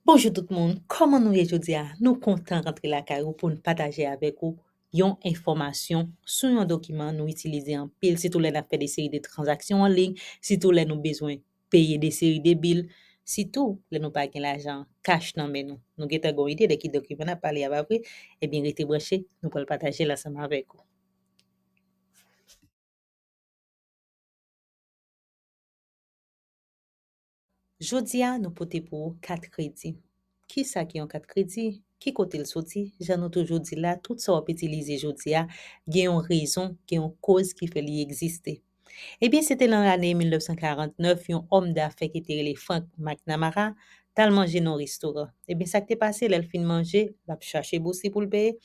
Bonjou tout moun, kòman nou ye jodi a? Nou kontan rantre lakay ou pou n pataje avèk ou yon enfòmasyon sou yon dokiman nou itilize anpil sitou lè n ap fè de seri de tranzaksyon an liy, sitou lè nou bezwen peye de seri de bil, sitou lè nou pa gen lajan kach nan men nou. Nou gentan gen yon ide de ki dokiman n ap pale a pa vre? Ebyen rete branche, nou pral pataje l ansanm avèk ou. Jodi a, nou pote pou ou kat kredi. Ki sa ki yon kat kredi? Ki kote l soti? Jan nou toujou di l la, tout sa w ap itilize jodi a, gen yon rezon, gen yon koz ki fè li egziste. Ebyen, se te lan lane 1949, yon òm dafè ki te rele Frank McNamara t al manje nan yon restoran. Ebyen, sa k te pase, lè l fin manje, l ap chache bousi pou l peye,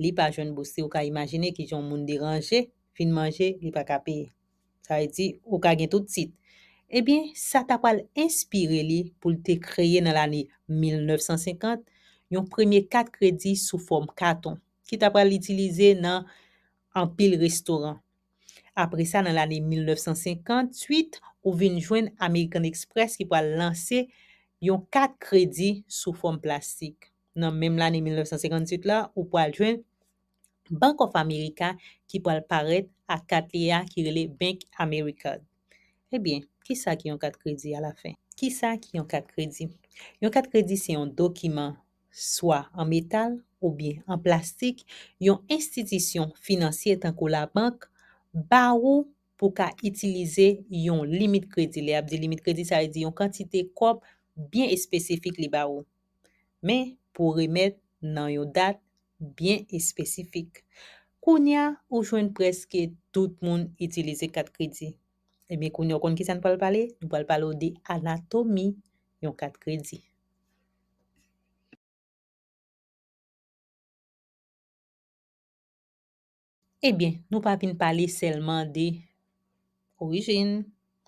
li pa jwenn bousi. Ou ka imajine ki jan yon moun deranje fin manje, li pa ka peye. Sa vle di, ou ka gen tout tit. Ebyen, sa ta pral enspire li pou l te kreye nan lane 1950, yon premye kat kredi sou fòm katon, ki ta pral itilize nan anpil restoran. Apre sa nan lane 1958, ou vin jwenn American Express ki pral lanse yon kat kredi sou fòm plastik. Nan menm lane 1958 la, ou pral jwenn Bank of America ki pral parèt ak kat li a ki rele Bank AmeriCard. Ebyen, ki sa ki yon kat kredi alafen? Ki sa ki yon kat kredi? Yon kat kredi se yon dokiman, swa an metal oubyen an plastik, yon enstitisyon finansye tankou labank ba ou pou w ka itilize yon limit kredi. Lè y ap di limit kredi, sa vle di yon kantite kòb byen espesifik li ba ou. men pou remèt nan yon dat byen espesifik. Kounye a, ou jwenn prèske tout moun itilize kat kredi. Ebyen kounye a ou konn kisa n pral pale? Nou pral pale w de anatomi yon kat kredi. Ebyen, nou pa vin pale sèlman de orijin,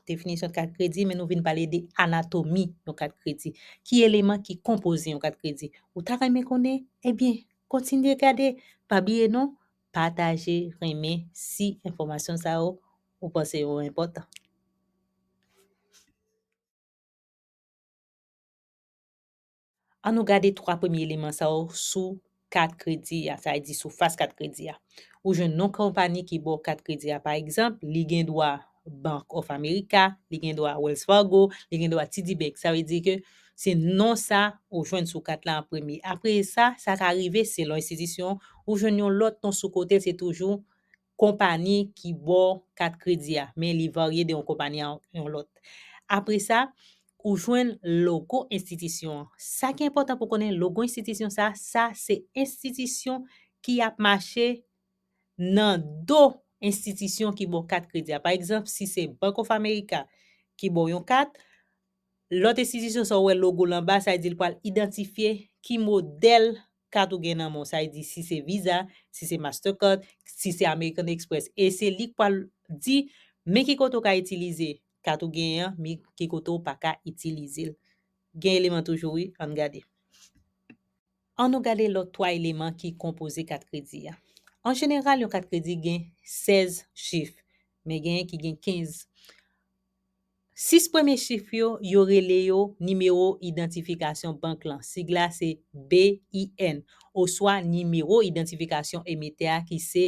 definisyon yon kat kredi, men nou vin pale de anatomi yon kat kredi. Ki eleman ki konpoze yon kat kredi? Ou ta renmen konnen? Ebyen, kontinye gade! Pa bliye non, pataje, renmen, si enfòmasyon sa yo ou panse yo enpòtan. An nou gade 3 premye eleman sa yo sou kat kredi a, sa vle di sou fas kat kredi a. Ou jwenn non konpani ki ba w kat kredi a. Pa egzanp, li gen dwa Bank of America, li gen dwa Wells Fargo, li gen dwa TD Bank. Sa vle di ke se non sa ou jwenn sou kat la an premye. Apre sa, sa ka rive selon enstitisyon, ou jwenn yon lòt non sou kote l, se toujou konpani ki ba w kat kredi a, men li varye de yon konpani a yon lòt. Apre sa, ou jwenn logo enstitisyon an. Sa ki enpòtan pou w konnen, logo enstitisyon sa, sa se enstitisyon ki ap mache nan do enstitisyon ki ba w kat kredi a. Pa egzanp, si se Bank of America ki ba w yon kat, lòt enstitisyon sa ou wè logo l anba, sa vle di li pral idantifye ki modèl Kat ou gen nan menw sa e di si se visa, si se mastercard, si se American Express e se li k pwal di men ki kote ou ka itilize kat ou genyen an men ki kote ou paka itilizel. Gen eleman toujou wi ann gade. An nou gade lòt 3 eleman ki konpoze kat kredi a. An jeneral yon kat kredi gen 16 chif men genyen ki gen 15. 6 premye chif yo, yo rele yo Nimewo Idantifikasyon Bank lan, sig la se BIN, oswa Nimewo Idantifikasyon Emetè a ki se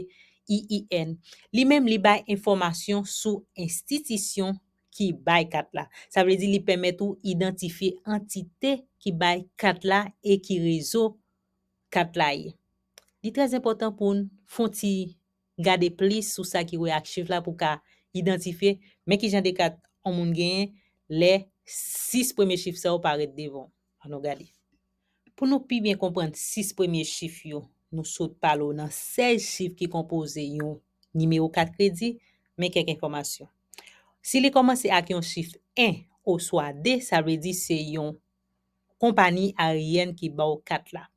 EIN. Li menm li bay enfòmasyon sou enstitisyon ki bay kat la. Sa vle di li pèmèt ou idantifye antite ki bay kat la e ki rezo kat la ye. Li trè enpòtan pou n fon ti Gade plis sou sa ki wè ak chif la pou w ka idantifye men kijan de kat on moun genyen lè 6 premye chif sa yo parèt devan w. An nou gade. Pou nou pi byen konprann 6 premye chif yo, nou sot pale w nan 16 chif ki konpoze yon nimewo kat kredi, men kèk enfòmasyon. Si li kòmanse ak yon chif 1 oswa 2 sa vle di se yon. konpani aryèn ki ba w kat la.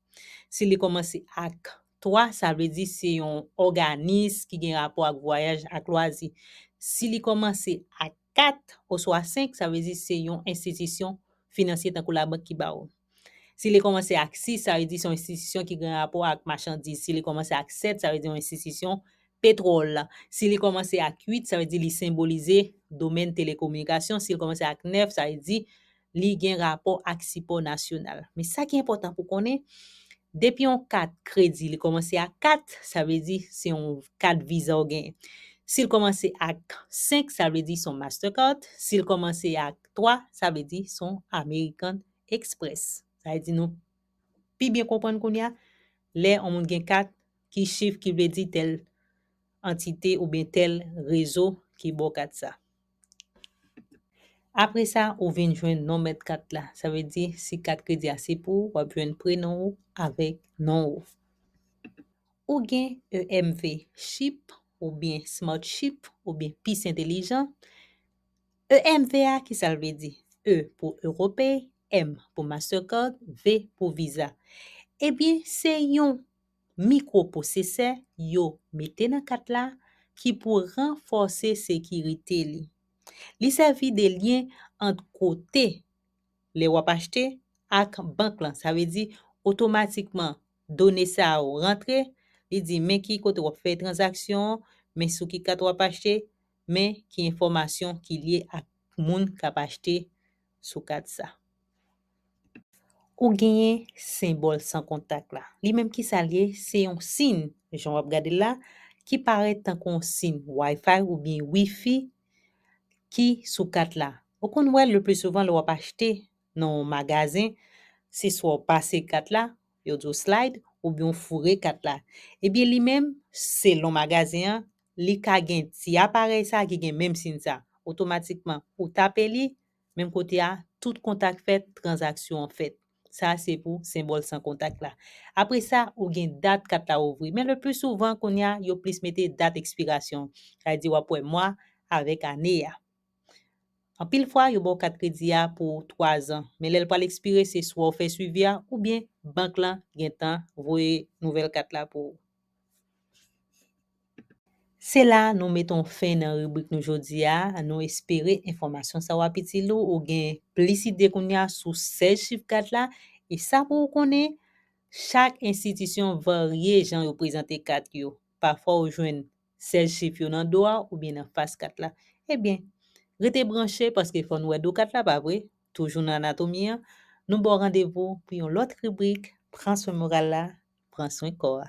Si li kòmanse ak 3, sa vle di se yon òganis ki gen rapò ak vwayaj ak lwazi. Si li kòmanse ak 4 oswa 5, sa vle di se yon enstitisyon finansye tankou labank ki ba ou. Si li kòmanse ak 6, sa vle di se yon enstitisyon ki gen rapò ak machandiz. Si li kòmanse ak 7, sa vle di yon enstitisyon petwòl. Si li kòmanse ak 8, sa vle di li senbolize domèn telekominikasyon. Si li kòmanse ak 9, sa vle di li gen rapò ak sipò nasyonal. Men sa ki enpòtan pou konnen, depi yon kat kredi li kòmanse ak 4, sa vle di se yon kat viza ou genyen. Si l kòmanse ak 5, sa vle di se yon Mastercard. Si l kòmanse ak 3, sa vle di se yon American Express. Sa vle di nou pi byen konprann kounye a, lè yon moun gen kat, ki chif ki vle di tèl antite oubyen tèl rezo ki ba w kat sa. Apre sa, ou vin jwenn non mèt kat la. Sa vle di, si kat kredi a se pou ou, w ap jwenn prenon ou avèk non ou. Ou gen EMV chip oubyen Smart chip oubyen Pis Entelijan. EMV a, ki sa l vle di? E pou Europay, M pou Mastercard, V pou Visa. Ebyen, se yon mikropwosesè yo mete nan kat la ki pou ranfòse sekirite li. Li sèvi de lyen ant kote lè w ap achte ak bank lan. Sa vle di, otomatikman done sa yo rantre, li di men ki kote w ap fè tranzaksyon an, men sou ki kat w ap achte, men ki enfòmasyon ki lye ak moun k ap achte sou kat sa. Ou genyen senbòl san kontak la. Li menm ki sa l ye? Se yon sin, jan w ap gade l la, ki parèt tankou yon sin Wi-Fi oubyen Wi-Fi ki sou kat la. Ou konn wè l leplisouvan lè w ap achte nan yon magazen, se swa w pase kat la, yo di w slide, oubyen w foure kat la. Ebyen li menm, selon magazen an, li ka gen ti aparèy sa ki gen menm sin sa. Otomatikman, ou tape li, Menm kote a, tout kontak fèt, tranzaksyon an fèt. Sa a se pou senbòl san kontak la. Apre sa, ou gen dat kat la ouvri. Men lepli souvan kounye a, yo plis mete dat ekspirasyon. Sa vle di w ap wè mwa avèk ane a. Anpil fwa, yo ba w kat kredi a pou twazan. Men lè l pral ekspire, se swa ou fè swivi a oubyen bank lan gentan voye nouvèl kat la pou ou. Se la nou meton fen nan ribrik nou jodi a, nou espere enfòmasyon sa w ap itil ou, ou gen plis ide kounye a sou 16 chif kat la, e sa pou ou konnen, chak enstitisyon varye jan yo prezante kat yo, pafwa ou jwenn 16 chif yo nan do a oubyen nan fas kat la. Ebyen, rete branche paske fò nou wè do kat la pa vre, toujou nan anatomi an, nou ba w randevou pou yon lòt ribrik, pran swen moral la, pran swen kò a.